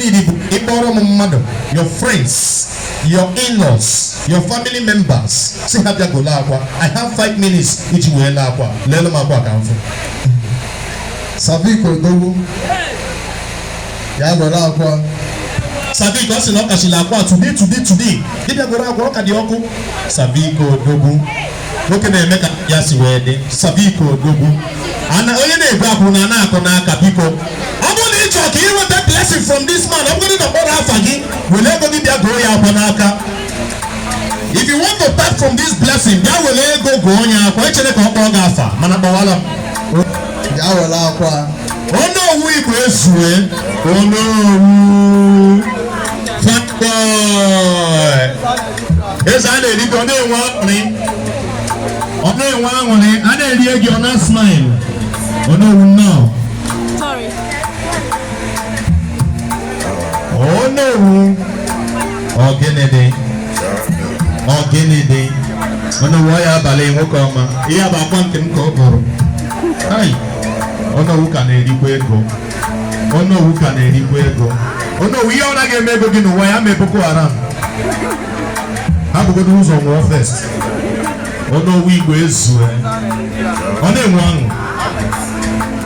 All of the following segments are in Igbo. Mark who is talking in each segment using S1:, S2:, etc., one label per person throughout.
S1: need bụ ịkpọrọ m mmadụ your friends your in-laws your family members sị ha bịa golo akwa i have five minutes iji wee lee akwa leele m akwa ka m fụ sabiko odogwu bịa golo akwa sabiko ọ sị na ọ kachila akwa today today today ị bịa golo akwa ọ ka dị ọkụ sabiko odogwu nwoke na-eme ka ya si wee dị sabiko odogwu ana onye na-egbu akwụ na na-akụ n'aka biko ọ bụrụ na ị chọrọ ka ị nweta blessing from this man ọ bụrụ na a kpọrọ afa gị were ego gị bịa goo ya akwa n'aka if you want to tap from this blessing bịa were ego goo ya akwa echere ka ọ kpọọ gị afa mana kpọwala m bịa were akwa Onowu Igbo ezue Onowu eze a na-eri gị ọ na-enwe aṅụrị ọ na-enwe aṅụrị a na-erie gị ọ na-smile Onowu nnọọ Onowu ọ gịnị dị ọ gịnị dị Onowu oya abalị nwoke ọma ihe bụ akwa nke m ka ọ bụrụ Onowu ka na-erikwa ego Onowu ka na-erikwu ego Onowu ihe ọ naghị eme ego gị n'ụwa ya mee Boko Haram ha bugodu ụzọ nwụọ first Onowu Igbo ezue ọ na-enwe ọṅụ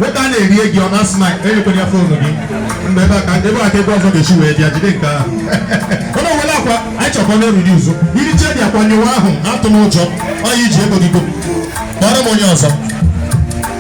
S1: nwoke a na-eri ego ọ na-asị na enyekwere ya phone gị mgbe ebe aka ebe aka ebe ọzọ ga-esi wee bịa jide nke ahụ ọnụ were akwa anyị chọkọ na eriri ụzọ iri chedi akwa nyewa ahụ atụ n'ụjọ oya jiri ego gị go kpọrọ m onye ọzọ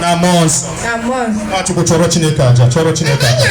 S1: na mmụọ nsọ Nwa Chukwu chụọrọ Chineke aja chụọrọ Chineke aja